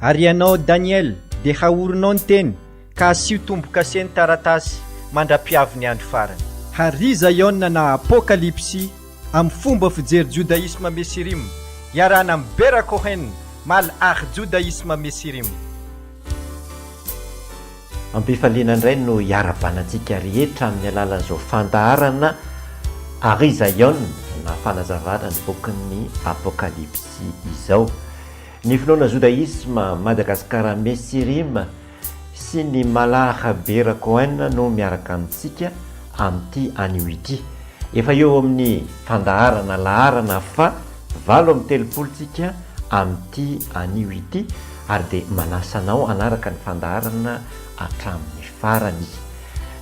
Ary ianao Daniel, dia haorinao ny teny, ka asio tombo-kase ny taratasy, mandra-piavy ny andro farany. Hary Zaiona na Apokalypsy amin'ny fomba fijery Jodaisma Mesirim, iarahana amin'i Bera Cohen, Mal ary Jodaisma Mesirim. Am-pifaliana indray no iarabana antsika rehetra amin'ny alalan'izao fandaharana Hary Zaiona na Fanazavana ny bokin'ny Apokalypsy izao. Ny finoana Jodaisma, Madagasikara Messirim sy ny Mallah Khabeer Cohen no miaraka amintsika amin'ity anio ity. Efa eo amin'ny fandaharana laharana faha valo amby telopolo tsika amin'ity anio ity ary dia manasa anao hanaraka ny fandaharana hatramin'ny farany.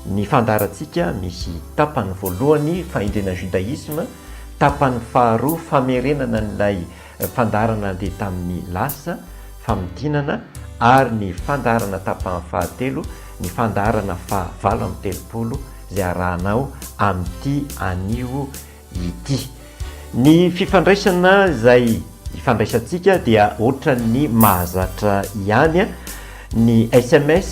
Ny fandaharantsika misy tapany voalohany Fahendrena Judaisme, tapany faharoa Famerenana an'ilay Fandaharana nandeha tamin'ny lasa, famintinana, ary ny fandaharana tapahany fahatelo, ny fandaharana faha valo amby telopolo, izay arahana ao amin'ity anio ity. Ny fifandraisana izay ifandraisantsika dia ohatran'ny mahazatra ihany ny sms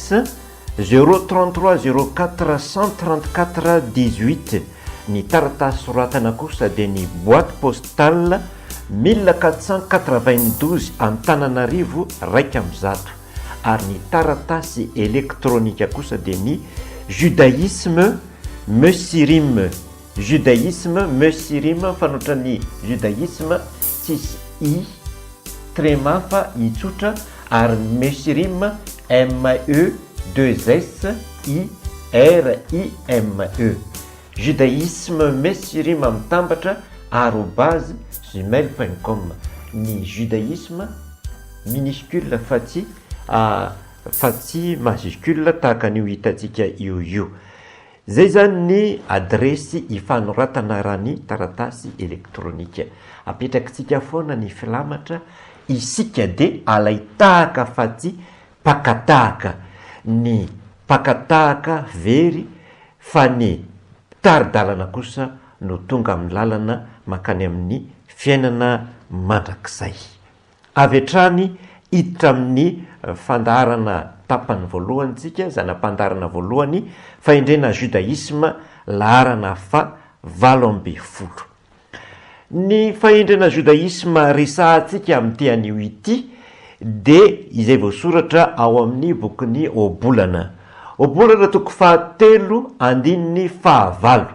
Zéro trente trois zéro quatre cent trente quatre dix huit ny taratasy soratana kosa dia ny boite postale mille quatre cent quatre vingt douze Antananarivo iraika amby zato ary ny taratasy elektronika kosa dia ny judaisme meuxirime Judaisme Musirm fanoitra ny Judaisme tsisy i, trema fa i tsotra, ary Musirm ME deux S I R I M E. Judaisme Musirm mitambatra arobase gmail point com ny Judaisme minuscule fa tsy fa tsy majuscule tahaka an'io hitantsika eo io. Izay izany ny adiresy hifanoratana raha ny taratasy elektronika. Apetrakitsika foana ny filamatra isika dia alain-tahaka fa tsy pakatahaka. Ny pakatahaka very fa ny mpitari-dalana kosa no tonga amin'ny lalana mankany amin'ny fiainana mandrakizay. Avy hatrany hiditra amin'ny fandaharana tapany voalohany tsika, zana-pandaharana voalohany, fahendrena Judaisme, laharana fa valo ambin'ny folo. Ny fahendrena Judaisme resahantsika amin'ity anio ity dia izay voasoratra ao amin'ny bokin'i Ohabolana. Ohabolana toko faha telo andininy faha valo.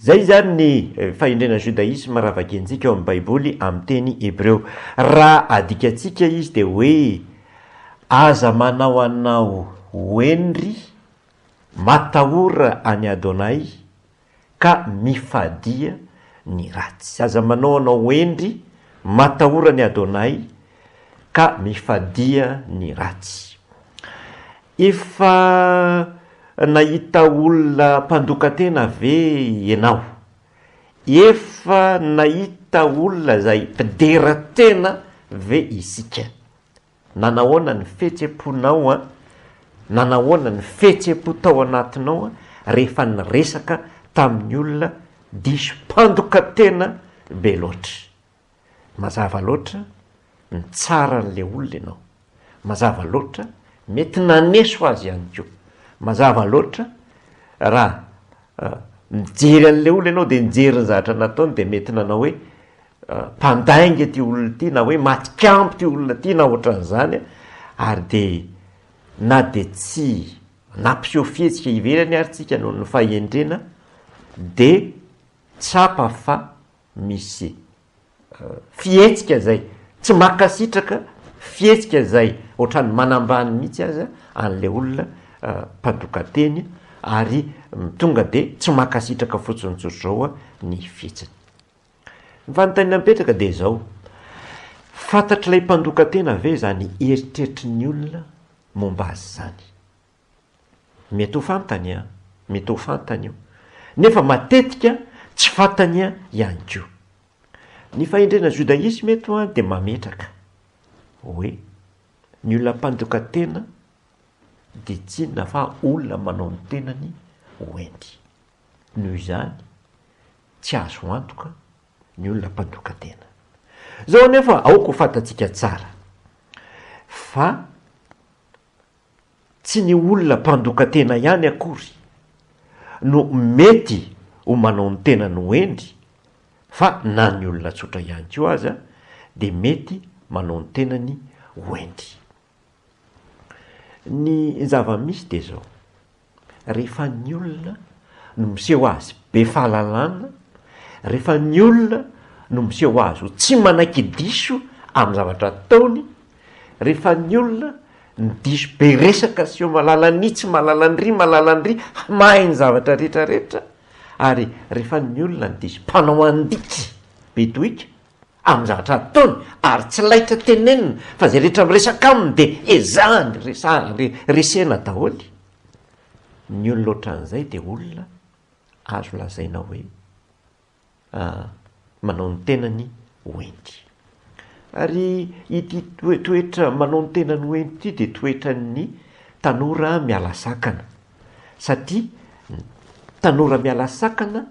Izay izany ny fahendrena Judaisme raha vakiantsika ao amin'ny Baiboly amin'ny teny hebreo. Raha adikantsika izy dia hoe, Aza manao anao ho henry, matahora an'i Adonai, ka mifadia ny ratsy. Aza manao anao ho henry, matahora an'i Adonai, ka mifadia ny ratsy. Efa nahita olona mpandokan-tena ve ianao? Efa nahita olona izay dera tena ve isika? Nanahoana ny fihetsem-ponao, nanahoana ny fihetsem-po tao anatinao rehefa niresaka tamin'ny olona diso mpandokan-tena be loatra? Mazava loatra mitsara an'ilay olona ianao. Mazava loatra mety naneso azy ihany koa. Mazava loatra raha mijery an'ilay olona ianao dia nijery ny zavatra nataony dia mety nanao hoe mpandainga ity olona ity na hoe matikambo ity olona ity na ohatran'izany ary dia na dia tsy nampiseho fihetsika ivelany ary tsika noho ny fahendrena dia tsapa fa misy fihetsika izay tsy mankasitraka, fihetsika izay ohatran'ny manambany mihitsy aza an'ilay olona mpandokan-teny ary tonga dia tsy mankasitraka fotsiny tsotra izao ny fihetsiny. Ny fanontaniana mipetraka dia izao, fantatr'ilay mpandokan-tena ve izany eritreritry ny olona momba azy izany? Mety ho fantany an! Mety ho fantany io. Nefa matetika tsy fantany ihany koa. Ny fahendrena Judaisme eto dia mametraka hoe ny olona mpandroka tena dia tsy inona fa olona manao ny tenany ho hendy. Noho izany, tsy azo antoka ny olona mpandroka tena. Izao anefa aoka ho fantatsika tsara fa Tsy ny olona mpandokan-tena ihany akory no mety ho manao ny tenany ho hendry fa na ny olona tsotra ihany koa aza dia mety manao ny tenany ho hendry. Ny zava-misy dia izao, Rehefa ny olona no miseho azy be fahalalana, rehefa ny olona no miseho azy ho tsy manaiky diso amin'ny zavatra ataony, rehefa ny olona no diso be resaka sy malalan'i itsy, malalan'iry, malalan'iry, mahay ny zavatra rehetrarehetra ary rehefa ny olona no diso mpanao an-diky be doika, amin'ny zavatra ataony ary tsy laitra tenenina fa izay rehetra miresaka aminy dia ezahany resahana re, resena daholo, ny olona ohatran'izay dia olona azo lazaina hoe aa manao ny tenany ho enty. Ary ity toetra manao ny tenany ho enty ity dia toetran'ny tanora miala sakana satria ny tanora miala sakana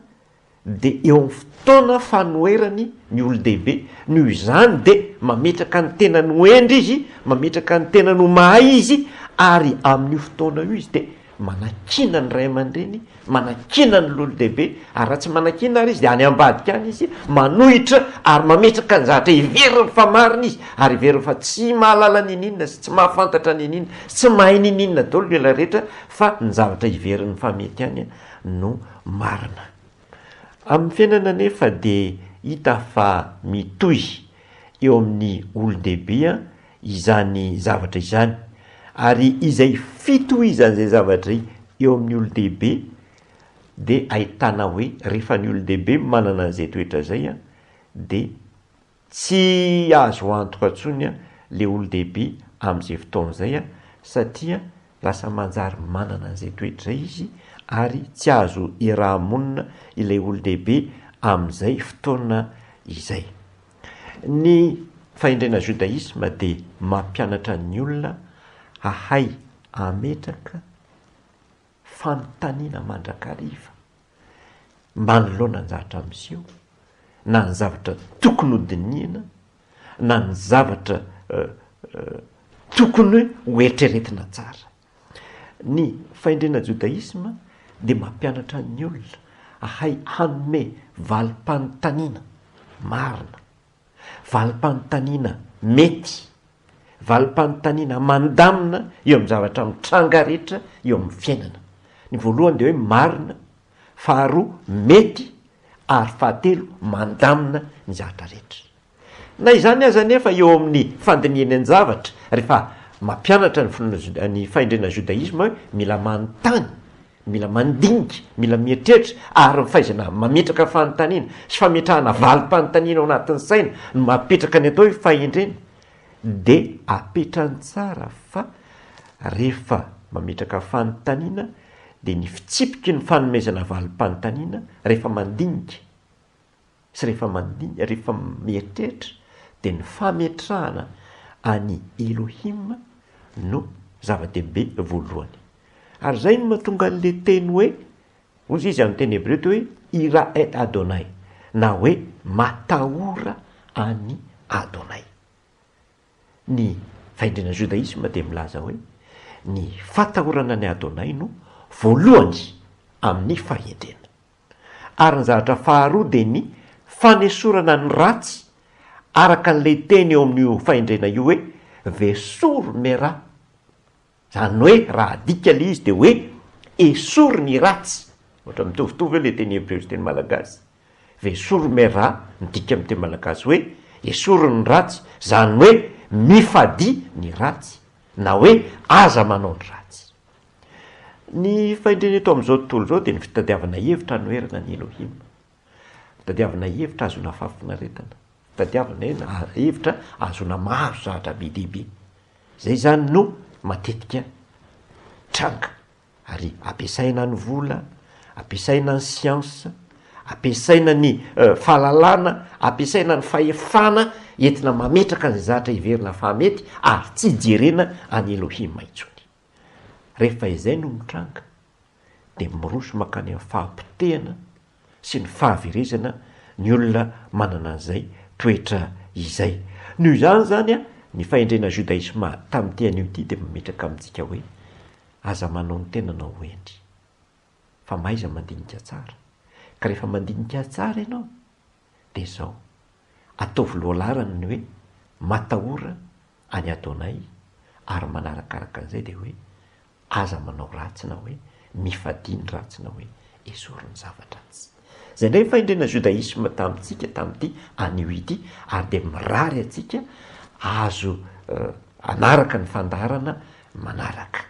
dia eo amin'ny fotoana fanoherany ny olon-dehibe, noho izany dia mametraka ny tenany ho hendry izy, mametraka ny tenany ho mahay izy, ary amin'io fotoana io izy dia manakiana ny ray aman-dreny, manakiana ny lolo-dehibe, ary raha tsy manakiana ary izy dia any ambadika any izy manohitra ary mametraka ny zavatra heveriny fa marina izy, ary heveriny fa tsy mahalala niniana sy tsy mahafantatra niniana sy tsy mahay niniana daholo ilay rehetra fa ny zavatra heveriny fa mety ihany an! no marina. Amin'ny fiainana anefa dia hita fa mitohy eo amin'ny olon-dehibe izany zavatra izany, ary izay fitohizan'izay zavatra eo amin'ny olon-dehibe dia ahitana hoe rehefa ny olon-dehibe manana an'izay toetra izay dia Tsy azo antoka tsony le olodehibe amzay fotoana zay a, satria lasa manjary manana anzay toetra zay izy ary tsy azo irahamonina ilay olodehibe amzay fotoana izay. Ny fahendrena judaisme de mampianatra ny olona hahay ametraka, fanontaniana mandrakariva manoloana ny zavatra miseho na ny zavatra tokony ho dinihina na ny zavatra tokony ho eritreretina tsara. Ny fahendrena jodaisma dia mampianatra ny olona hahay hanome valim-panontaniana marina. Valim-panontaniana mety, valim-panontaniana mandamina eo amin'ny zavatra mitranga rehetra eo amin'ny fiainana. Ny voalohany dia hoe marina, faharoa mety ary fahatelo mandamina ny zavatra rehetra. Na izany aza anefa eo amin'ny fandinihany an-javatra rehefa mampianatra ny finoana ny fahendrena judaisme hoe mila manontany Mila mandinika, mila mieritreritra ary ny fahaizana mametraka fanontaniana sy fametrahana valim-panontaniana ao anatin'ny saina no mahapetraka ny atao hoe fahendrena. Dia apetrany tsara fa rehefa mametraka fanontaniana dia ny fitsipiky ny fanomezana valim-panontaniana rehefa mandinika, sy rehefa mandinika, rehefa mieritreritra, dia ny fametrahana an'i Elohim no zava-dehibe voalohany. Ary izay no mahatonga an'ilay teny hoe, hoy izy amin'ny teny hebreo teo hoe, Ira et Adonai, na hoe matahora an'i Adonai. Ny fahendren'ny jodaisma dia milaza hoe, ny fatahorana an'i Adonai no voalohany amin'ny fahendrena. Ary ny zavatra faharoa dia ny fanesorana ny ratsy araka an'ilay teny eo amin'io fahendrena io hoe vesur mera. Izany hoe raha adika ilay izy dia hoe esory ny ratsy. Ohatra mitovitovy eo ilay teny hebreo sy teny malagasy. Vesur mera midika amin'ny teny malagasy hoe esory ny ratsy, izany hoe mifadia ny ratsy na hoe aza manao ny ratsy. Ny fahendrena eto amin'izao tontolo izao dia ny fitadiavana hevitra hanoherana an'i Elohim. Fitadiavana hevitra hahazoana fahafinaretana. Fitadiavana ena a, hevitra hahazoana mahazo zavatra be dia be. Izay izany no matetika tranga ary ampiasaina ny vola, ampiasaina ny siansa, ampiasaina ny fahalalana, ampiasaina ny fahefana entina mametraka izay zatra heverina fa mety ary tsy jerena an'i Elohim intsony. Rehefa izay no mitranga dia miroso mankany amin'ny fahapotehana sy ny fahaverezana ny olona manana an'izay toetra izay. Noho izany izany ny fahendrena Judaisma tamin'ity anio ity dia mametraka amintsika hoe, aza manao ny tenanao ho hendry, fa mahaiza mandinika tsara, ka rehefa mandinika tsara ianao, dia izao, ataovy lohalarany ny hoe matahora an'i Adonay ary manarakaraka an'izay dia hoe aza manao ratsy na hoe mifadia ny ratsy na hoe esory ny zava-dratsy. Izay indray ny fahendrenà Judaisme tamintsika tamin'ity anio ity ary dia mirary antsika azo hanaraka ny fandaharana manaraka.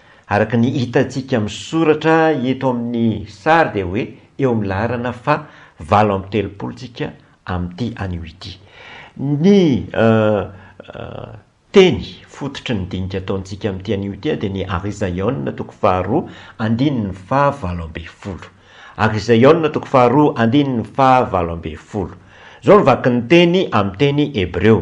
Araka ny hitantsika amin'ny soratra eto amin'ny sary dia hoe eo amin'ny laharana faha valo amby telopolo tsika amin'ity anio ity. Ny teny fototry ny dinika ataontsika amin'ity anio ity dia ny Ary Zaiona toko faha roa andininy faha valo ambin'ny folo. Ary Zaiona toko faha roa andininy faha valo ambin'ny folo. Izao ny vakin'ny teny amin'ny teny hebreo.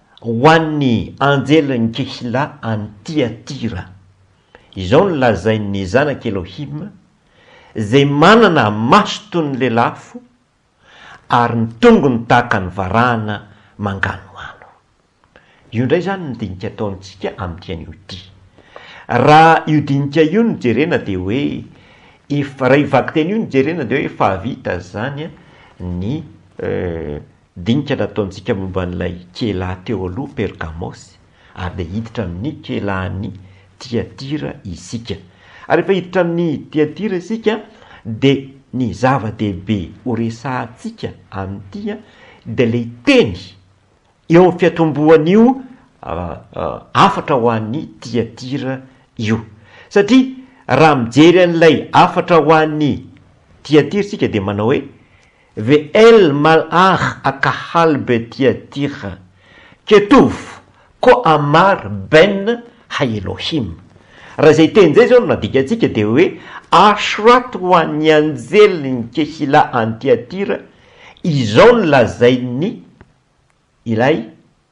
Ho an'ny anjelin'i Kehila any Tiatira. Izao no lazain'ny zanak'i Elohim, izay manana maso toy ny lelafo ary ny tongony tahaka ny varahana manganohano. Io indray izany ny dinika ataontsika amin'ity anio ity. Raha io dinika io no jerena dia hoe efa, raha io vakiteny io no jerena dia hoe efa hahavita izany ny. Dinika nataontsika momba an'ilay Kela teo aloha Pergamosy, ary dia hiditra amin'ny Kela any Tiatira isika. Ary rehefa hiditra any Tiatira isika, dia ny zava-dehibe horesahantsika amin'ity dia ilay teny eo amin'ny fiatombohan'io hafatra ho an'ny Tiatira io. Satria raha mijery an'ilay hafatra ho an'ny Tiatira isika dia manao hoe, VL mal'ar akahal be tia tira ketov ko amar ben ha Elohim. Raha izay teny izay izao no nadikantsika dia hoe ashrat ho an'ny anjelin'i Kehillah any Tiatira izao no lazain'ny Ilay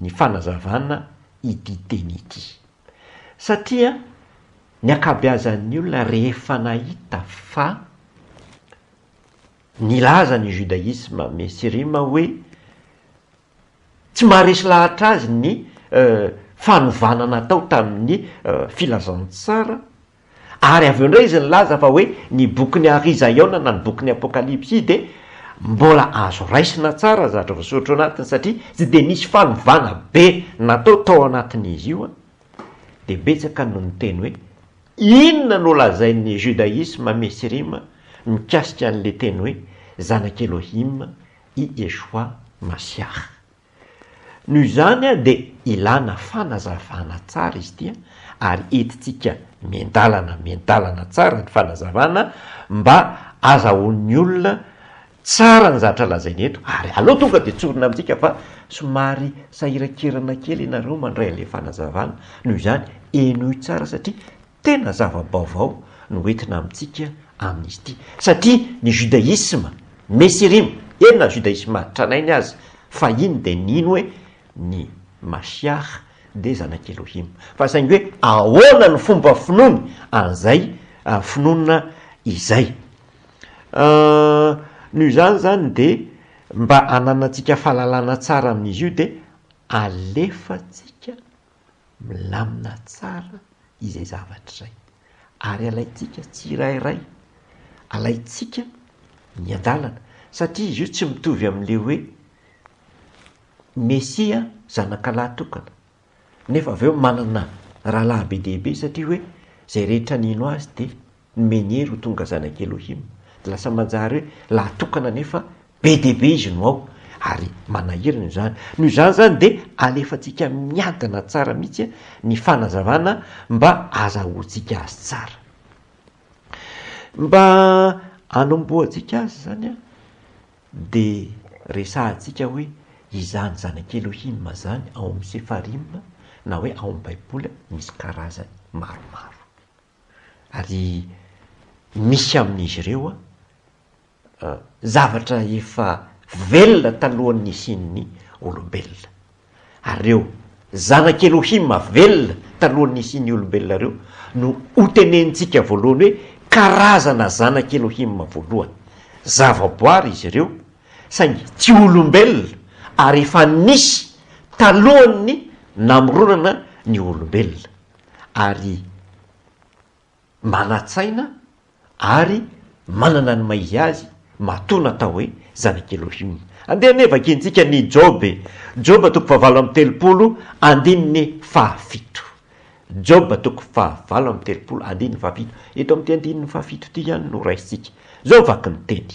ny fanazavana ity teny ity. Satria ny ankabeazan'ny olona rehefa nahita fa nilaza ny judaisme mesirima hoe tsy maharesy lahatra azy ny fanovana natao tamin'ny filazantsara Ary avy eo indray izy nilaza fa hoe ny bokin'i Ary Zaiona na ny bokin'ny Apokalypsy dia mbola azo raisina tsara zatra voasoratra ao anatiny satria tsy dia nisy fanovana be natao tao anatin'izy io an! Dia betsaka no niteny hoe inona no lazain'ny Judaisma Mesirima mikasika an'ilay teny hoe Zanak'i Elohim i Yeshua Masiah. Noho izany dia ilana fanazavana tsara izy ity ary entintsika miandalana miandalana tsara ny fanazavana mba azahoan'ny olona tsara ny zatra lazaina eto ary aleo tonga dia tsorina amintsika fa somary sahirankirana kely ianareo mandray an'ilay fanazavana noho izany henoy tsara satria Tena zava-baovao no entina amintsika amin'izy ity, satria ny judaisme Nesirim, eny na judaisme tranainy aza, fahiny dia nino hoe ny Mashiach dia zanak'i Elohim. Fa saingy hoe ahoana ny fomba finoany an'izay finoana izay? Noho izany izany dia mba hananantsika fahalalana tsara amin'izy io dia alefantsika milamina tsara izay zavatra izay ary alaintsika tsirairay, alaintsika ny andalana satria izy io tsy mitovy amin'ilay hoe Mesia zanakalahy tokana nefa avy eo manana rahalahy be dia be satria hoe izay rehetra nino azy dia ny Meniry ho tonga zanak'i Elohim. Dia lasa manjary hoe lahatokana anefa be dia be izy no ao, ary manahirana izany. Noho izany izany dia alefantsika miadana tsara mihitsy ny fanazavana mba azahoantsika azy tsara. Mba hanombohantsika azy izany dia resahantsika hoe izany zanak'i Elohim izany ao amin'ny Sefarim na hoe ao amin'ny Baiboly misy karazany maromaro. Ary misy amin'izy ireo zavatra efa velona talohan'ny nisian'ny olombelona. Ary ireo zanak'Elohim velona talohan'ny nisian'ny olombelona ireo no hotenenintsika voalohany hoe karazana zanak'Elohim voalohany. Zavaboary izy ireo, saingy tsy olombelona, ary efa nisy talohan'ny namoronana ny olombelona. ary manan-tsaina ary manana ny maha-izy azy, matoa natao hoe zanak' Elohim. Andeha anie vakiantsika ny Joba e! Joba toko fahavalo amby telopolo andininy fahafito. Joba toko fahavalo amby telopolo andininy fahafito. Eto amin'ity andininy fahafito ity ihany no raisintsika. Izao vaky ny teny,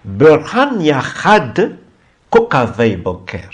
Berhan Yahad Kokavei Boker.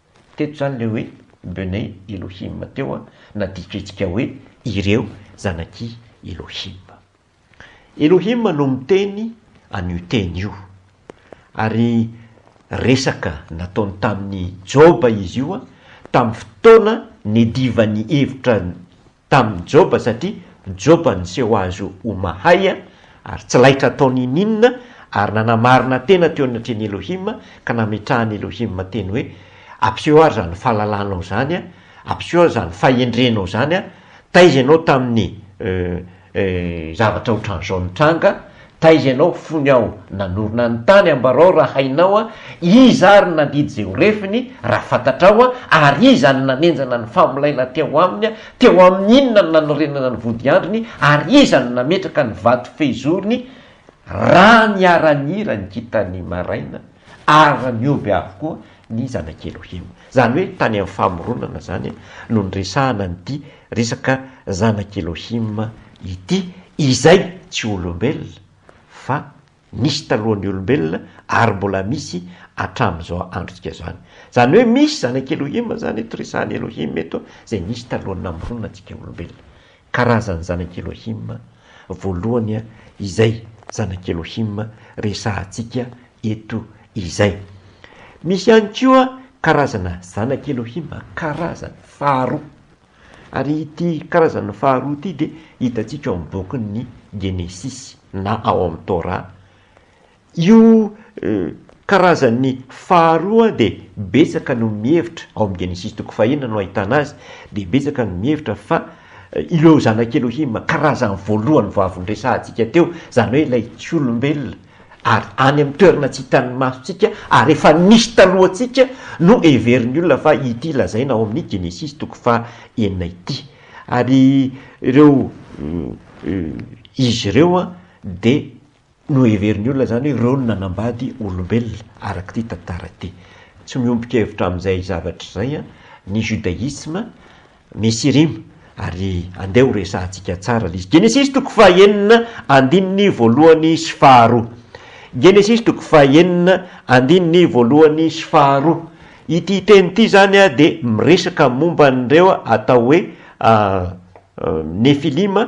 Teto izany ilay hoe Bnei Elohim teo an, na dikantsika hoe ireo zanak'i Elohim. Elohim no miteny an'io teny io, ary resaka nataony tamin'i Joba izy io tamin'ny fotoana niadivan'ny hevitra. tamin'i Joba satria Joba niseho azy ho mahay ary tsy laitra tao niniana ary nanamarina tena teo anatrehan'i Elohim ka nametrahan'i Elohim teny hoe, Ampiseho ary izany fahalalanao izany, ampiseho ary izany fahendrenao izany, taiza ianao tamin'ny zavatra ohatran'izao nitranga? Taiza ianao fony aho nanorina ny tany Ambarao raha hainao a Iza ary no nandidy izay ho refiny raha fantatrao a Ary iza no nanenjana ny famolaina teo aminy a Teo amin'ny inona no nanorenana ny vodiandriny Ary iza no nametraka ny vato fehizoriny Raha niara-nihira ny kintan'ny maraina ary nihoby avokoa ny zanakely ohio. Izany hoe tany amin'ny famoronana izany no niresahana an'ity resaka zanak' Elohim ity, izay tsy olombelona fa nisy talohan'ny olombelona ary mbola misy hatramin'izao androntsika izao any. Izany hoe misy zanak' Elohim izany eto, resahan'i Elohim eto izay nisy talohan'ny namoronana antsika olombelona. Karazan'ny zanak'i Elohim voalohany izay zanak'i Elohim resahantsika eto izay. Misy ihany koa karazana zanak'i Elohim karazany faharoa. Ary ity karazany faharoa ity dia hitantsika ao amin'ny bokin'ny Genesisy na ao amin'ny Torah Io karazany faharoa dia betsaka no mihevitra, ao amin'ny Genesisy toko fahenina no ahitana azy, dia betsaka no mihevitra fa ireo zanak'i Elohima, karazany voalohany vao avy noresahantsika teo, izany hoe ilay tsy olombelona ary any amin'ny toerana tsy hitan'ny masontsika ary efa nisy talohantsika no heverin'ny olona fa ity lazaina ao amin'ny Genesisy toko faha enina ity. Ary ireo izy ireo dia Noheverin'ny olona izany hoe ireo no nanambady olombelona, araka ity tantara ity. Tsy miombon-kevitra amin'izay zavatra izay ny judaisme. Misy irima ary andeha ho resahantsika tsara ilay izy. Genesisy toko fahenina andininy voalohany sy faharoa. Genesisy toko fahenina andininy voalohany sy faharoa. Ity teny ity izany dia miresaka momba an'ireo atao hoe Nefilima,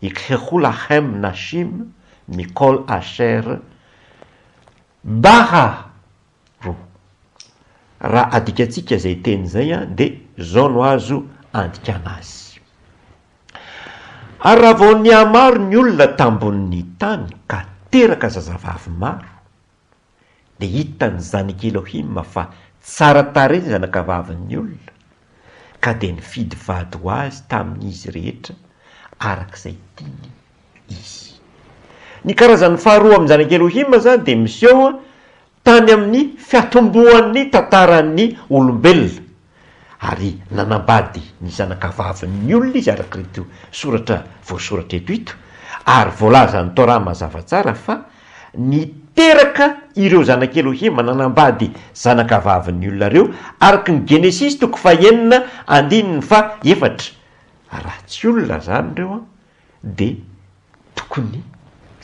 i Khekhulahem Nashim Nicole Asher Barra roa. Raha adikantsika izay teny izay dia izao no azo andikana azy. Ary raha vao nihamaro ny olona tambonin'ny tany ka teraka zazavavy maro, dia hitan'ny zanak'i Elohima fa tsara tarehy ny zanakavavin'ny olona, ka dia nifidy vady ho azy tamin'izy rehetra araka izay tiany izy. Ny karazany faharoa amin'ny zanak'i Elohima izany dia miseho tany amin'ny fiatombohan'ny tantaran'ny olombelona, Ary nanambady ny zanakavavin'ny olona izy arak'irito soratra voasoratra eto ito, ary voalazan'ny Torah mazava tsara fa niteraka ireo zanak'i Elohima nanambady zanakavavin'ny olona ireo araka ny Genesisy toko fahenina andininy fahaefatra. Raha tsy olona izany ireo an, dia tokony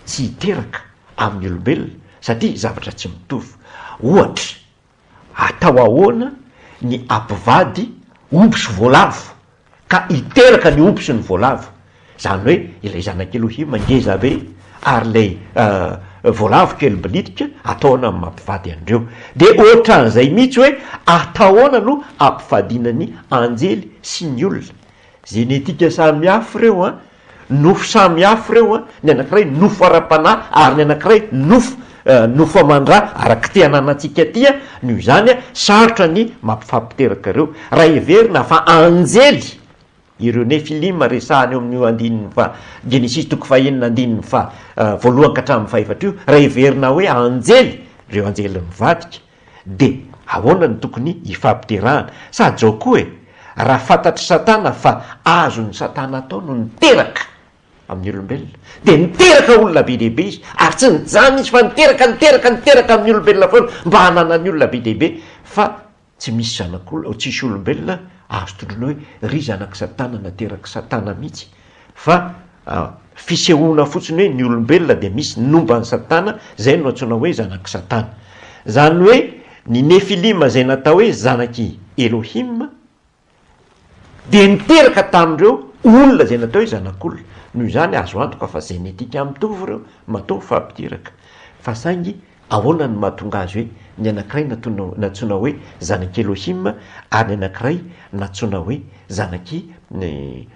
tsy hiteraka amin'ny olombelona satria zavatra tsy mitovy. Ohatra, Atao ahoana ny ampivady omby sy voalavo ka hiteraka ny omby sy ny voalavo? Izany hoe ilay zanak'i Elohima ngeza be ary ilay voalavo kely bilitika ataona amin'ny maha-mpivady an'ireo. Dia ohatran'izay mihitsy hoe atahoana no ampivadiana ny anjely sy ny olona. Zenetika samihafa ireo an! Nofo samy hafa ireo an, ny anankiray nofo ara-panahy ary ny anankiray nofo nofo aman-dra araka ity ananantsika ity an, noho izany an, sarotra ny mampifampiteraka ireo. Raha heverina fa anjely ireo Nefilima resahana eo amin'io andininy faha, Genesisy toko faha enina andininy faha voalohany ka hatramin'ny faha efatra io, raha heverina hoe anjely, ireo anjely mivadika, De ahoana no tokony hifampiterahana? Sa jao koa e! Raha fantatr'i satana fa azon'i satana atao no niteraka amin'ny olombelona dia niteraka olona be dia be izy ary tsy nijanona izy fa niteraka niteraka niteraka amin'ny olombelona foana mba hananany olona be dia be fa tsy misy zanak'olona tsisy olombelona azo tondroina hoe ry zanak'i satana naterak'i satana mihitsy fa An, fisehoana fotsiny hoe ny olombelona dia misy nomba an'i Satana, izay no antsoina hoe zanak'i Satana. Izany hoe ny Nefilima izay natao hoe zanak'i Elohim dia niteraka tamin'ireo olona izay natao hoe zanak'olona. Noho izany, azo antoka fa zenetika mitovy ireo, matoa mifampidiraka. Fa saingy ahoana no mahatonga azy hoe ny anankiray nantsoina hoe zanak'i Elohim ary ny anankiray nantsoina hoe zanak'i.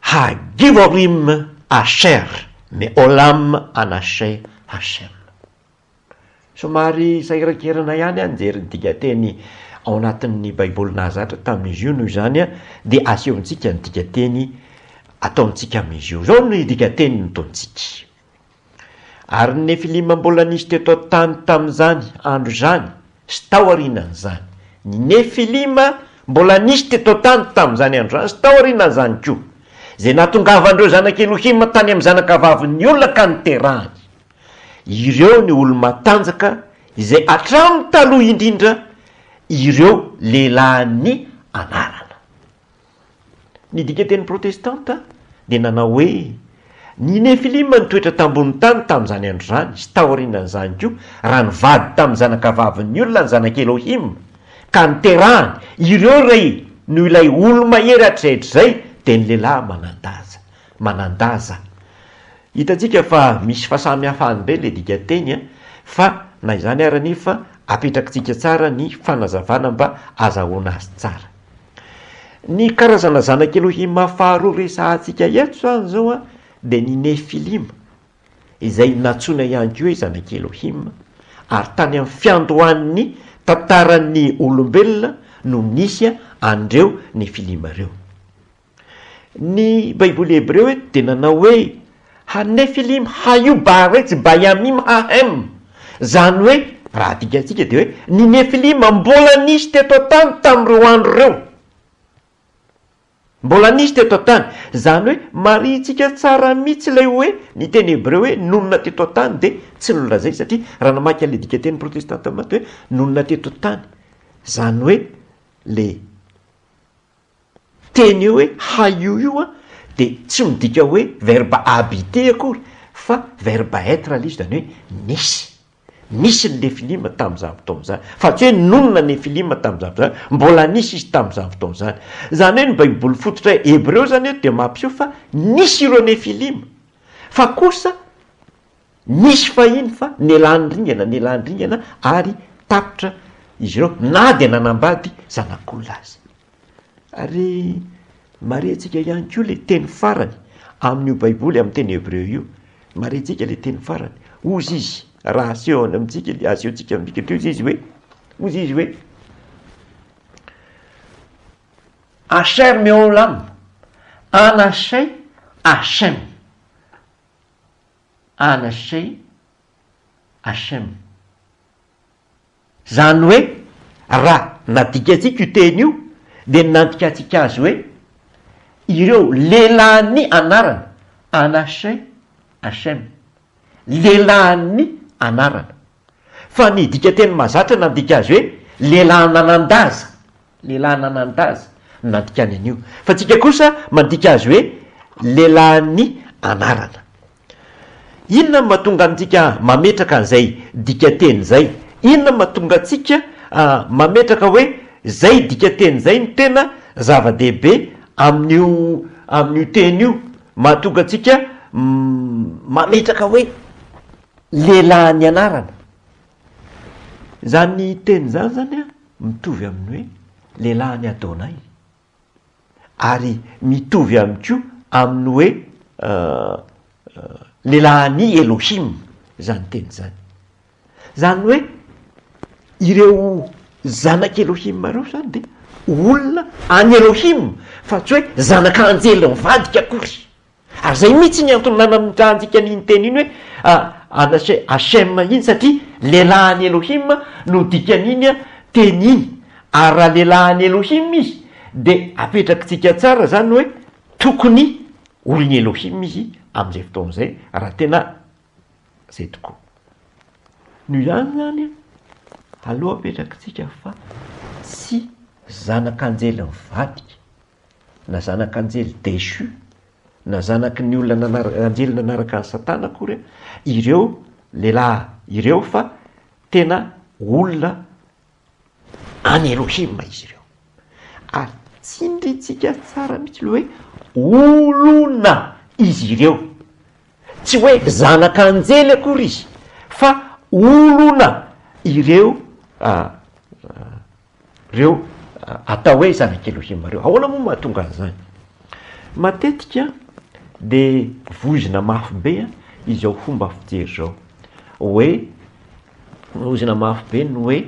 Hagivorim Asher Me'olam Anashe Hashem. Somary sahirankirana ihany aho nijery ny dikateny ao anatin'ny Baiboly nahazatra tamin'izy io, noho izany dia asehontsika ny dikateny ataontsika amin'izy io. Izao no dikateny nataontsika. Ary ny Nefilima mbola nisy teto an-tany tamin'izany andro izany sy tao aorianan'izany. Ny Nefilima mbola nisy teto an-tany tamin'izany andro izany sy tao aorianan'izany koa, izay nahatongavan'ireo zanak' Elohima tany amin'ny zanakavavin'ny olona ka niterahany. Ireo ny olo-matanjaka izay hatramin'ny taloha indrindra ireo lehilahin'ny anarana. Ny dikanteny protestanta dia nanao hoe, Ny Nefilima nitoetra tambonin'ny tany tamin'izany andro izany, sy taorianan'izany koa, raha nivady tamin'ny zanakavavin'ny olona ny zanak'i Elohim, ka niterahany, ireo rey, noho ilay olo-mahery hatrizay hatrizay, dia ny lehilahy manan-daza. Manan-daza. Hitantsika fa misy fahasamihafany indray ilay dikanteny an, fa na izany ary anefa apetrakitsika tsara ny fanazavana mba azahoana azy tsara. Ny karazana zanak'i Elohima faharoa resahantsika eto izany izao dia ny Nefilima, izay nantsoina ihany koa hoe zanak'i Elohima, ary tany amin'ny fiandohan'ny tantaran'ny olombelona no nisy an'ireo Nefilima ireo. Ny Baiboly hebreo eto dia nanao hoe Ha Nefilim ha Yu Baarets ba Yamim ha Hem, izany hoe, raha adikantsika dia hoe, ny Nefilima mbola nisy teto an-tany tamin'ireo andro ireo. Mbola nisy teto an-tany. Izany hoe, marihintsika tsara mihitsy ilay hoe ny teny hebreo hoe nonina teto an-tany dia tsy nolazainy, satria raha namaky an'ilay dikanteny protestanta maty hoe nonina teto an-tany, izany hoe ilay. teny eo hoe haio io an, dia tsy midika hoe verbe habiter akory fa verbe être ilay izy, izany hoe nisy. Nisy ny Nefilima tamin'izany fotoana izany. Fa tsy hoe nonina Nefilima tamin'izany fotoana izany. Mbola nisy izy tamin'izany fotoana izany. Izany hoe ny Baiboly fototra hebreo izany eto dia mampiseho fa nisy ireo Nefilima. Fa kosa. Nisy fahiny fa nialany ringana nialany ringana ary tapitra izy ireo na dia nanambady zanak'olona aza. Ary marintsika ihany koa ilay teny farany amin'io Baiboly amin'ny teny hebreo io, marintsika ilay teny farany, hozy izy, raha asehony amintsika, asehontsika amin'ny bikany, hozy izy hoe, hozy izy hoe, Asher Meholam, Anashay Hashem. Anasey, Hashem. Izany hoe raha nadikantsika io teny io dia nandikantsika azy hoe ireo lehilahin'ny anarana, Anasey, Hashem, lehilahin'ny anarana. Fa ny dikanteny mahazatra nandika azy hoe lehilahy nanan-daza, lehilahy nanan-daza, no nandikany an'io. Fa antsika kosa mandika azy hoe lehilahin'ny anarana. Inona no mahatonga antsika mametraka an'izay dikanteny izay? Inona no mahatonga antsika mametraka hoe izay dikanteny izay no tena zava-dehibe amin'io amin'io teny io? Mahatonga antsika mametraka hoe Lehilahy ny anarana. Izany teny izany izany mitovy amin'ny hoe lehilahin'i Adonay. Ary mitovy ihany koa amin'ny hoe lehilahin'i Elohim izany teny izany. Izany hoe ireo zanak'i Elohim ireo izany dia olona an'i Elohim fa tsy hoe zanak'anjely mivadika akory. Ary zay mihitsy ny antony nanamitrahantsika an'iny teny iny hoe anase Hashem iny satria lehilahy an'i Elohim no dikan'iny teny iny. Ary raha lehilahy an'i Elohim izy de apetrakitsika tsara zany hoe tokony olon'i Elohim izy amin'izay fotoana izay raha tena zay tokoa. Noho izany zany aleo apetrakitsika fa tsy zanak'anjely mivadika. na zanak'anjely dechu, na zanaky ny olona nanaraka, anjely nanaraka an'i Satana akory ireo lehilahy ireo fa tena olona an'i Elohim izy ireo. Ary tsindrintsika tsara mihitsy ilay hoe olona izy ireo. Tsy hoe zanak'anjely akory izy fa olona ireo ah, ah, reo atao hoe zanak'Elohima reo. Ahoana moa mahatonga an'izany? Matetika dia voizina mafy be izao fomba fijery izao hoe, voizina mafy be ny hoe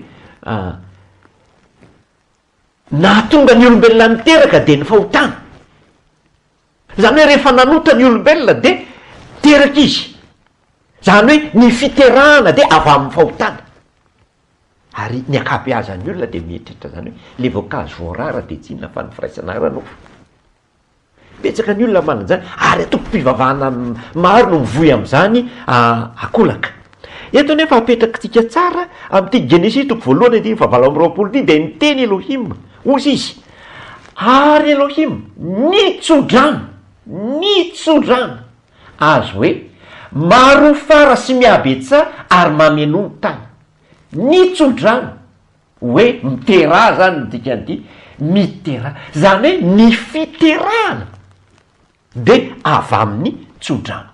nahatonga ny olombelona niteraka dia ny fahotana, izany hoe rehefa nanota ny olombelona dia teraka izy, izany hoe ny fiterahana dia avy amin'ny fahotana. Ary ny ankabeazan'ny olona dia mieritreritra izany hoe ilay voankazo voarara dia tsy inona fa ny firaisana ara nofo. Betsaka ny olona manana izany ary antokom-pivavahana maro no mivoy amin'izany akolaka. Eto anefa apetrakitsika tsara amin'ity Genesisy toko voalohany andininy fahavalo amby roapolo ity dia niteny Elohim, hozy izy, Ary Elohim nitso-drano, nitso-drano. Azy hoe, Maro fara sy mihabetsaha ary mameno ny tany. Ny tso-drano, hoe miteraha izany ny dikan'ity, miteraha, izany hoe ny fiterahana dia avy amin'ny tso-drano.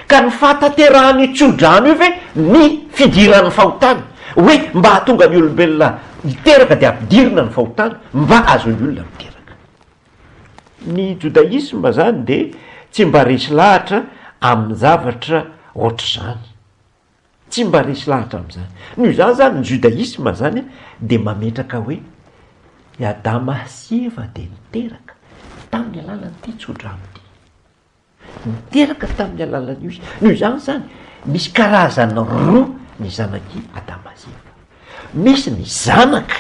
Ka ny fahatanterahan'io tso-drano io ve ny fidiran'ny fahotana, hoe mba hahatonga ny olombelona hiteraka dia ampidirina ny fahotana mba hahazoan'ny olona miteraka. Ny jodaisma izany dia tsy mba resy lahatra amin-javatra ohatr'izany. Tsy mba resy lahatra amin'izany. Noho izany izany ny jodaisma izany dia mametraka hoe i Adama sy Eva dia niteraka tamin'ny alalan'ity tsodrano ity. Niteraka tamin'ny alalan'io izy. Noho izany izany, misy karazany roa ny zanak'i Adama sy Eva. Misy ny zanaka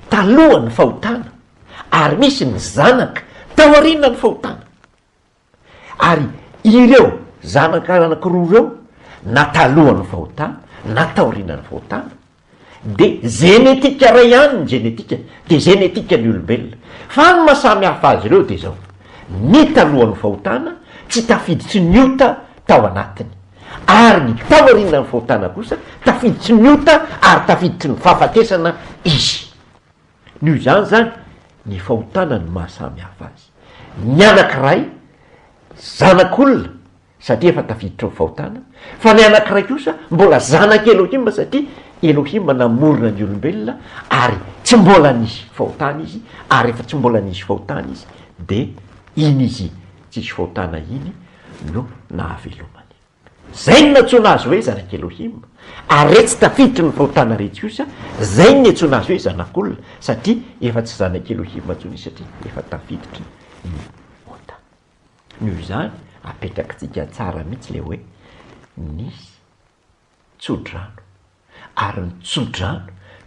talohan'ny fahotana ary misy ny zanaka taorianan'ny fahotana. Ary ireo zanaka anankiroa ireo, na talohan'ny fahotana na taorianan'ny fahotana, Dia zenetika iray ihany ny zenetika, dia zenetika ny olombelona. Fa ny maha samy hafa azy ireo dia izao, ny talohan'ny fahotana tsy tafiditry ny ota tao anatiny, ary ny taorianan'ny fahotana kosa tafiditry ny ota ary tafiditry ny fahafatesana izy. Noho izany izany, ny fahotana no maha samy hafa azy. Ny anankiray, zanak'olona, satria efa tafiditra ao fahotana, fa ny anankiray kosa mbola zanak' Elohima satria Elohima namorona ny olombelona ary tsy mbola nisy fahotana izy, ary rehefa tsy mbola nisy fahotana izy dia iny izy tsisy fahotana iny no nahavelomany. Izay no nantsoina azy hoe zanak' Elohima, ary re tsy tafiditra ny fahotana retsy kosa, izay no niantsoina azy hoe zanak' olona, satria efa tsy zanak' Elohima intsony izy satria efa tafiditra ny ota. Noho izany, apetrakitsika tsara mihitsy ilay hoe nisy tsodrano, ary ny tsodrano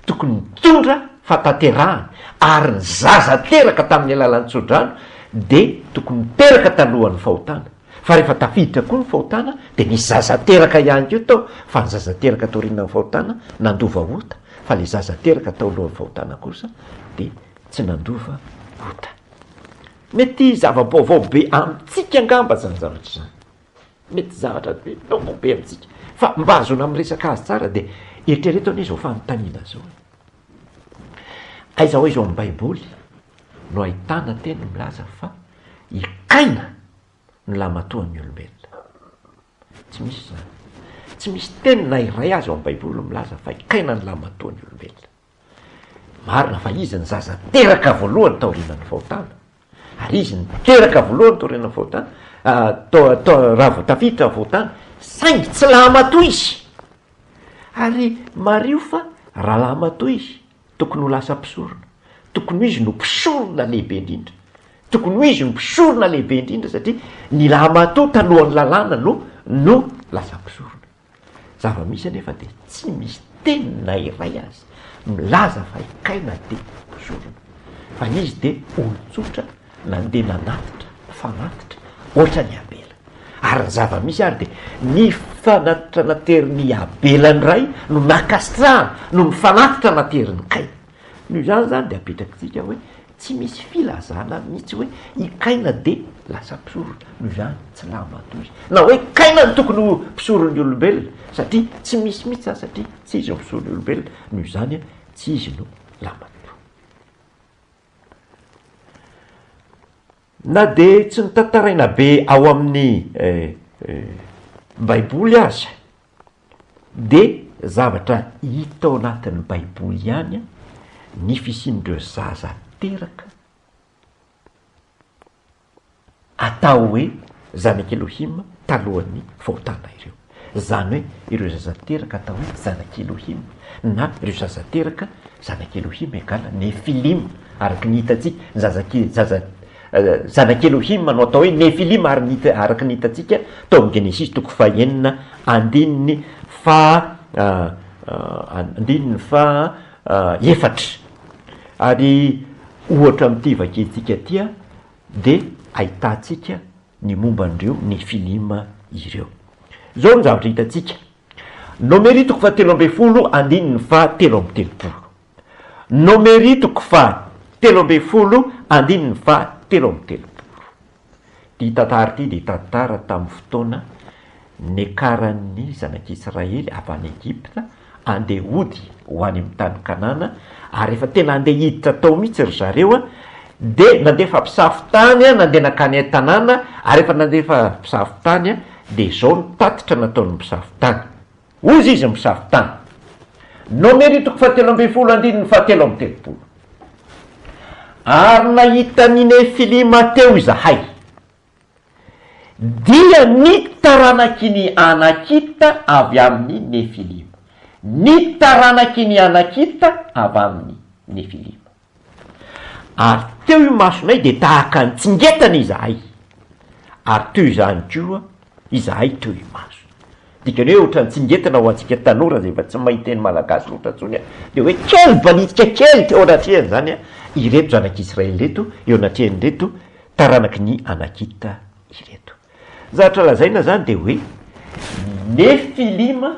tokony nitondra fahatanterahana, ary ny zaza teraka tamin'ny alalan'ny tsodrano dia tokony niteraka talohan'ny fahotana, fa rehefa tafiditra koa ny fahotana dia nisy zaza teraka ihany koa tao, fa ny zaza teraka taorianan'ny fahotana nandova ota, fa ilay zaza teraka tao alohan'ny fahotana kosa dia tsy nandova ota. Mety zava-baovao be amintsika angamba izany zavatra izany, mety zavatra be vaovao be amintsika fa mba ahazoana miresaka azy tsara dia eritrereto anie izao fanontaniana izao e, aiza ho aiza ao amin'ny Baiboly no ahitana teny milaza fa i Kaina no lahimatoan'ny olombelona? Tsy misy izany, tsy misy teny na iray aza ao amin'ny Baiboly milaza fa i Kaina no lahimatoan'ny olombelona. Marina fa izy ny zaza teraka voalohany taorianan'ny fahotana, ary izy no teraka voalohany taorianan'ny fahotana, raha vao tafiditra ny fahotana, saingy tsy laha-matoa izy. Ary mariho fa raha laha-matoa izy, tokony ho lasa mpisorona. Tokony ho izy no mpisorona lehibe indrindra. Tokony ho izy no mpisorona lehibe indrindra satria ny laha-matoa talohan'ny lalàna no no lasa mpisorona. Zava-misy anefa dia tsy misy teny na iray aza milaza fa i Kaina dia mpizorona, fa izy dia olon-tsotra nandeha nanatitra, fanatitra, hoatra an'i Abela. Ary ny zava-misy ary dia ny fanatitra naterin'i Abela indray no nakasitrahana noho ny fanatitra naterin'i Kaina. Noho izany izany dia apetraky tsika hoe tsy misy filazana mihitsy hoe i Kaina dia lasa mpisorona, noho izany tsy lava tory na hoe Kaina no tokony ho mpisoron'ny olombelona satria tsy misy mihitsy izany satria tsy izy no mpisoron'ny olombelona noho izany tsy izy no lava tory. Na dia tsy notantaraina be ao amin'ny baiboly aza. Dia zavatra hita ao anatin'ny Baiboly ihany ny fisian'ireo zaza teraka atao hoe zanak'i Elohim talohan'ny fahotana ireo. Izany hoe ireo zaza teraka atao hoe zanak'i Elohim na ireo zaza teraka zanak'i Elohim egale Nefilim araka ny hitantsika, ny zaza, zaza, Zanak'i Elohima no atao hoe Nefilima ary ny araka ny hitantsika tao amin'ny Genesisy toko fahenina andininy faha andininy faha efatra. Ary ohatra amin'ity vakintsika ity dia ahitantsika ny momba an'ireo Nefilima ireo. Izao no zavatra hitantsika, Nomery toko fahatelo ambin'ny folo andininy faha telo amby telopolo. Nomery toko faha telo ambin'ny folo andininy faha telo amby telopolo. Ity tantara ity dia tantara tamin'ny fotoana niakaran'ny zanak'Israely avy any Egypta andeha hody ho any amin'ny tany Kanana ary efa tena andeha hiditra tao mihitsy ry zareo dia nandefa mpisafo tany nandeha nankany an-tanàna ary efa nandefa mpisafo tany dia izao ny tatitra nataon'ny mpisafo tany. Hozy izy misafo tany. Nomery toko fahatelo ambin'ny folo andininy fahatelo amby telopolo Ary nahita ny Nefilima teo izahay, dia ny taranaky ny Anakita avy amin' ny Nefilima, ny taranaky ny Anakita avy amin' ny Nefilima. Ary teo imasonay dia tahaka ny tsingetana izahay, ary teo izany koa izahay teo imaso. Dikany hoe ohatran'ny tsingetana ho antsika tanora izay efa tsy mahay teny malagasy loatra intsony dia hoe kely balitika kely teo anatrehan'izany ireto zanak'Israely ireto, eo anatrehan'ireto taranaky ny Anakita ireto. Ny zavatra lazaina izany dia hoe Nefilima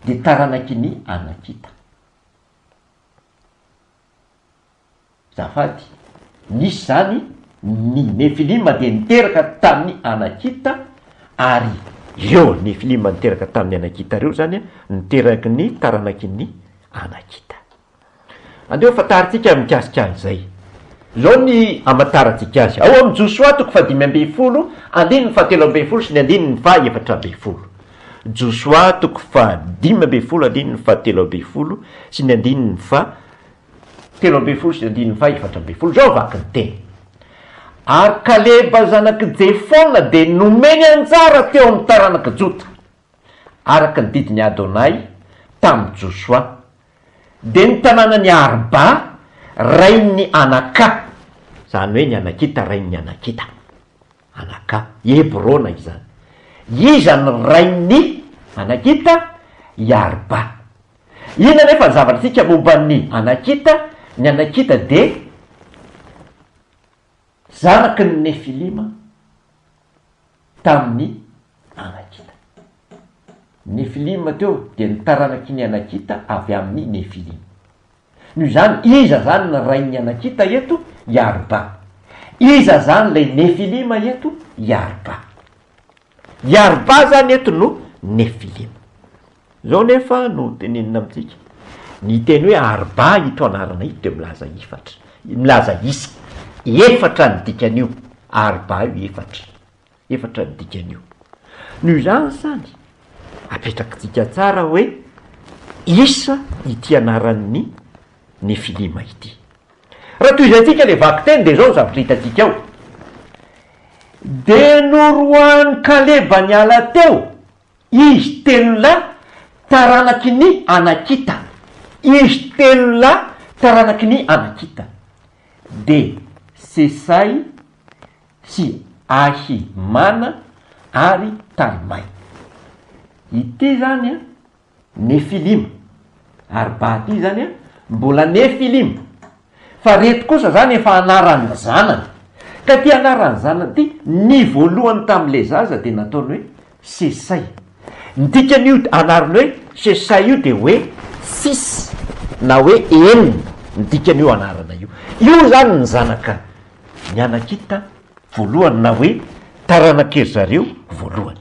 dia taranaky ny Anakita. Zafady, nisy izany, ny Nefilima dia niteraka tamin'ny Anakita, ary ireo Nefilima niteraka tamin'ny Anakita ireo izany niteraky ny taranakin'ny Anakita. Andeha hofantarintsika mikasika an'izay. Izao ny hamantarantsika azy, ao amin'ny Josoa toko fahadimy ambin'ny folo, andininy fahatelo ambin'ny folo sy ny andininy fahaefatra ambin'ny folo. Josoa toko fahadimy ambin'ny folo andininy fahatelo ambin'ny folo sy ny andininy fahatelo ambin'ny folo sy ny andininy fahefatra ambin'ny folo, izao vaky ny teny, Ary Kaleba zanak'i Jefona dia nomeny anjara teo amin'ny taranak'i Jota, araka ny didin'i Adonay tamin'i Josoa, dia ny tanànan'i Arba rain'ny Anaka, izany hoe ny Anakita rain'ny Anakita. Anaka. Hebrona izany. Iza ny rain' i. Anakita? I Arba. Inona anefa ny zavatra antsika momba ny. Anakita? Ny Anakita dia. Zanaky ny Nefilima tamin' ny Anakita. Ny Nefilima teo dia ny taranaky ny Anakita avy amin' ny Nefilima. Noho izany, iza izany ny rain'ny Anakita eto? I Arba. Iza izany ilay Nefilima eto? I Arba. I Arba izany eto no Nefilima. Izao anefa no tenenina amintsika, ny teny hoe Arba ito anarana ito dia milaza efatra, milaza isa. Efatra ny dikan'io, Arba io efatra. Efatra ny dikan'io. Noho izany izany, apetrakintsika tsara hoe isa ity anaran'ny Nefilima ity. Raha tohizantsika ilay vakiteny dia izao ny zavatra hitantsika ao, dia noroahan'i Kaleba niala teo izy telo lahy taranaky ny Anakita, izy telo lahy taranaky ny Anakita, dia Sesay, sy Ahi mana ary Talmay. Ity izany Nefilima, ary ba ity izany mbola Nefilima, fa ireto kosa izany efa anaran'ny zanany. Ka ity anaran'ny zanany ity, ny voalohany tamin'ilay zaza dia nataony hoe Sesay. Ny dikan'io anarana hoe Sesay io dia hoe six na hoe enina ny dikan'io anarana io. Io izany ny zanaka. mianakita voalohany na hoe taranak'ery zareo voalohany.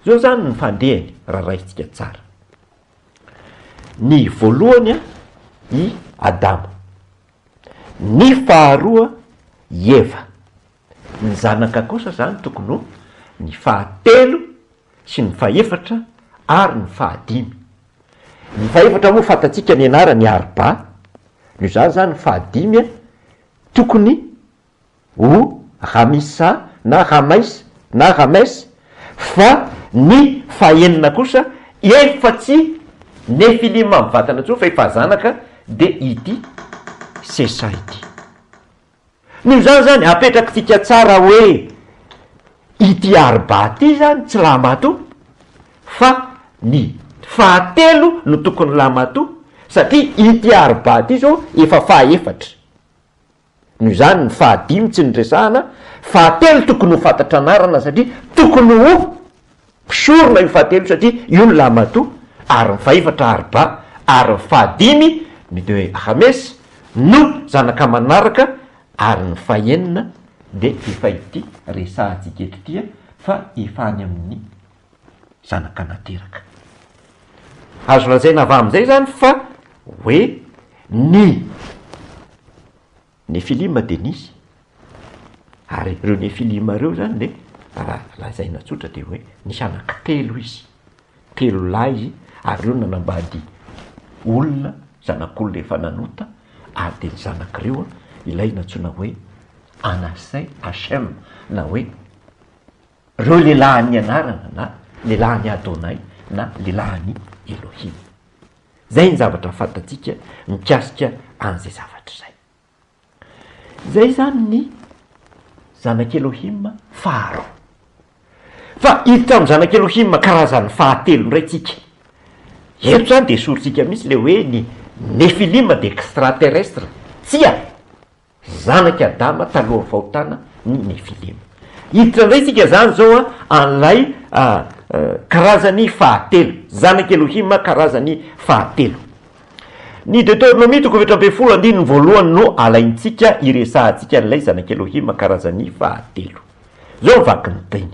Zao zany ny fandehany raha raisintsika tsara. Ny voalohany an, i Adama, ny faharoa i Eva, ny zanaka kosa zany tokony ho ny fahatelo sy ny fahefatra ary ny fahadimy. Ny fahefatra moa fantatsika ny anarany Arba, noho izany izany ny fahadimy tokony ho Ramisa na Ramais na Rames fa ny fahenina kosa efa tsy Nefilima mivantana intsony fa efa zanaka dia ity Sesa ity. Noho izany izany, apetrakitsika tsara hoe ity arba ity izany tsy lahimatoa fa ny fahatelo no tokony ho lahimatoa satria ity arba ity izao efa fahaefatra. Noho izany ny fahadimy tsy noresahana, fahatelo tokony ho fantatra anarana satria tokony ho. Mpisorona io fahatelo satria io ny lahimatoa ary ny fahefatra Arba ary ny fahadimy ny dia hoe Rames no zanaka manaraka ary ny fahenina dia efa ity resahantsika eto ity fa efa any amin'ny zanaka nateraka. Azo lazaina avy amin'izay izany fa hoe ny. Nefilima dia nisy, ary ireo Nefilima ireo izany dia raha lazaina tsotra dia hoe nisy anankitelo izy, telo lahy izy ary ireo nanambady olona, zanak'olona efa nanota ary dia ny zanak'ireo ilay nantsoina hoe Anasey, Hashem, na hoe ireo lehilahin'ny anarana na lehilahin'i Adonay na lehilahin'i Elohim. Izay ny zavatra fantatsika mikasika an'izay zavatra izay. Izay izany ny zanak'i Elohim faharoa. Fa hiditra amin'ny zanak'i Elohim karazany fahatelo indray isika. Eto izany dia esorintsika mihitsy ilay hoe ny Nefilim dia extraterrestre. Tsia. Zanak'i Adama talohan'ny fahotana ny Nefilima. Hiditra indray isika izany izao an'ilay karazany fahatelo, zanak'i Elohima karazany fahatelo. Ny Deteronomia toko efatra ambin'ny folo andininy voalohany no alaintsika hiresahantsika an'ilay zanak'i Elohima karazany fahatelo. Izao ny vakin'ny teny.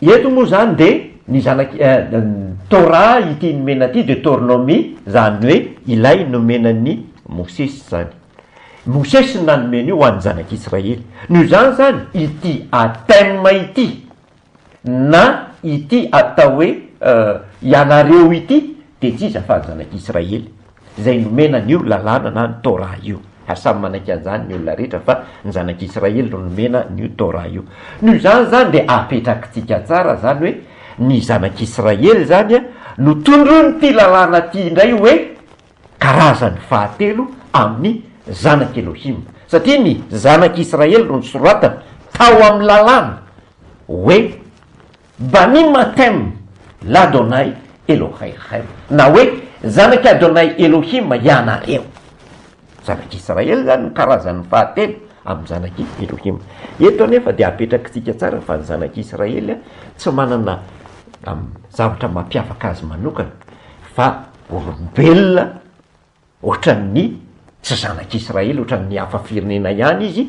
Eto moa izany dia ny zanak' i Torah ity nomena ity, Deoteronomy, izany hoe ilay nomena an' i Mosesy izany. Mosesy no nanome an'io ho an'ny Zanak' Israely. Noho izany izany ity atem ity na ity atao hoe ianareo ity dia tsy iza fa ny Zanak' Israely. izay nomena an' io lalàna na ny Torah io, ary samy manaiky an' izany ny olona rehetra fa ny Zanak' Israely no nomena an' io Torah io. Noho izany izany dia apetrakitsika tsara izany hoe ny Zanak' Israely izany no tondron' ity lalàna ity indray hoe karazany fahatelo amin' ny Zanak' Elohim, satria ny Zanak' Israely no nosoratana tao amin' ny lalàna hoe, Banim Hatem, L'Adonai Elohaychem, na hoe Zanak'i Adonai Elohim ianareo. Zanak'Israely izany no karazany fahatelo amin'ny zanak'i Elohim. Eto anefa dia apetrakitsika tsara fa ny zanak'Israely tsy manana zavatra mampiavaka azy manokana fa olombelona, Hoatran'ny tsy zanak'Israely, hoatran'ny hafa firenena ihany izy,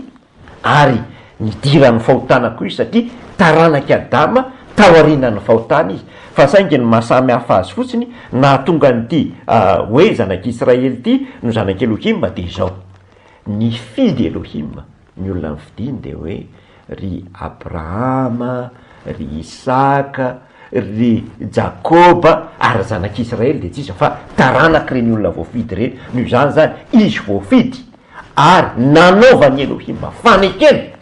ary nidiran'ny fahotana koa izy, satria taranak'i Adama taorianan'ny fahotana izy. Fa saingy ny maha samy hafa azy fotsiny, nahatonga an'ity hoe zanak'Israely ity no zanak'i Elohim dia izao, nifidy Elohim. Ny olona nofidiny dia hoe ry Abrahama, ry Isaka, ry Jakoba, ary ny zanak'Israely dia tsy iza fa taranak'ireny olona voafidy ireny, noho izany izany izy voafidy ary nanaovan'i Elohima fanekena,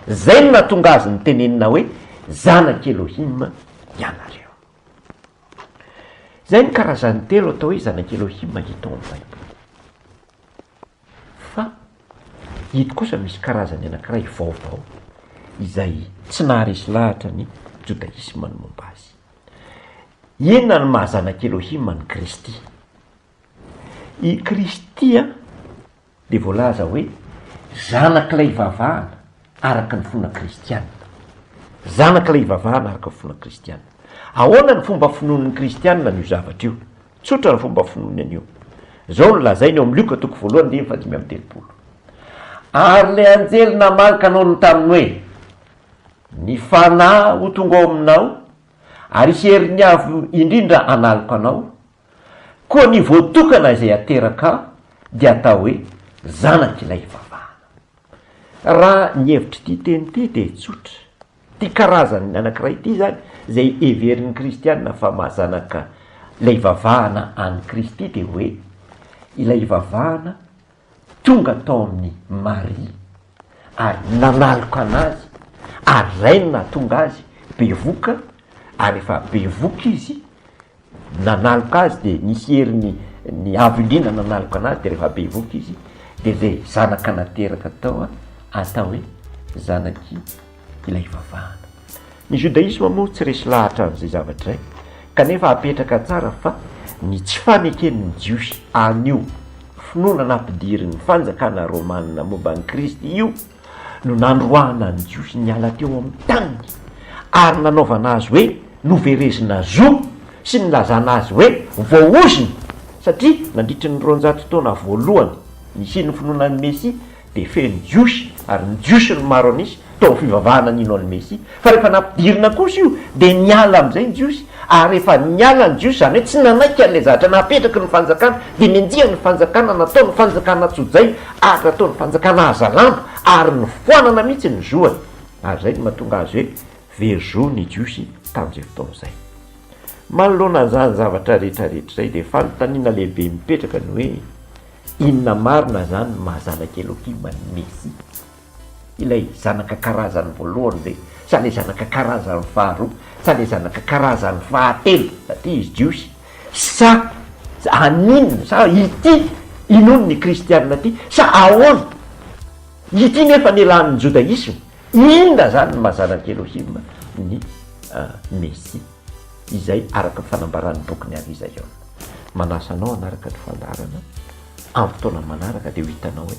izay no nahatonga azy nitenenina hoe zanak'i Elohima ianareo. Izay ny karazany telo atao hoe zanak'i Elohima hita ao amin'ny Baiboly. Fa eto kosa misy karazany anankiray vaovao izay tsy naharesy lahatra ny Jodaisma ny momba azy. Inona no maha zanak'i Elohim an'i Kristy? I Kristy dia voalaza hoe zanak'ilay ivavahana araka ny finoana kristiana. Zanak'ilay ivavahana araka ny finoana kristiana. Ahoana ny fomba finoan'ny Kristiana an'io zavatra io? Tsotra ny fomba finoany an'io. Izao no lazainy ao amin'ny Lioka toko voalohany andininy fahadimy amby telopolo, Ary ilay anjely namaly ka nanao taminy hoe, Ny Fanahy ho tonga ao aminao, ary herin'ny Avo Indrindra hanaloka anao, koa ny voatokana izay hateraka dia hatao hoe zanak'ilay ivavahana. Raha ny hevitr'ity teny ity dia tsotra. Ity karazany anankiray ity izany izay heverin'ny kristiana fa mahazanaka ilay hivavahana an'i Kristy dia hoe ilay hivavahana tonga tao amin'i Maria ary nanaloka an'azy ary izay no nahatonga azy bevoka ary efa bevoka izy nanaloka azy dia nisy herin'ny ny haviliana nanaloka anazy dia rehefa bevoka izy dia zay zanaka nateraka tao atao hoe zanaky ilay ivavahana. Ny judaisme moa tsy resy lahatra an'izay zavatra izay kanefa apetraka tsara fa ny tsy faneken'ny jiosy an'io finoana nampidirin'ny fanjakana romana momba an'i Kristy io no nandroahana an'i Jiosy niala teo amin'ny taniny ary nanaovana azy hoe noverezina zo sy nilazana azy hoe voaozona, satria nandritry ny roanjato taona voalohany nisian'ny finoana an'i Mesia dia feno Jiosy ary ny Jiosy no maro an'isa tao amin'ny fivavahana nino an'i Mesia Fa rehefa nampidirina kosa io dia niala amin'izay ny Jiosy, ary rehefa niala ny Jiosy, izany hoe tsy nanaiky an'ilay zavatra napetraky ny fanjakana, dia nenjehan' ny fanjakana natao ny fanjakana tsojaina ary natao ny fanjakana hazalambo, ary nofoanana mihitsy ny zoany. Ary izay no mahatonga azy hoe very zo ny Jiosy tamin'izay fotoana izay. Manoloana an'izany zavatra rehetra rehetra izay dia fanontaniana lehibe mipetraka ny hoe, Inona marina izany no maha Zanak'i Elohima ny Mesia? Ilay zanaka karazany voalohany ve sa ilay zanaka karazany faharoa sa ilay zanaka karazany fahatelo satria izy jiosy sa aninona sa ity inoany ny kristiana ity sa ahoana ity nefa nialan'ny jodaisma inona zany ny maha zanak'i Elohim ny mesia izay araka ny fanambaran'ny bokin'i Arizaiona. Manasa anao hanaraka ny fandaharana amin'ny fotoana manaraka dia ho hitanao hoe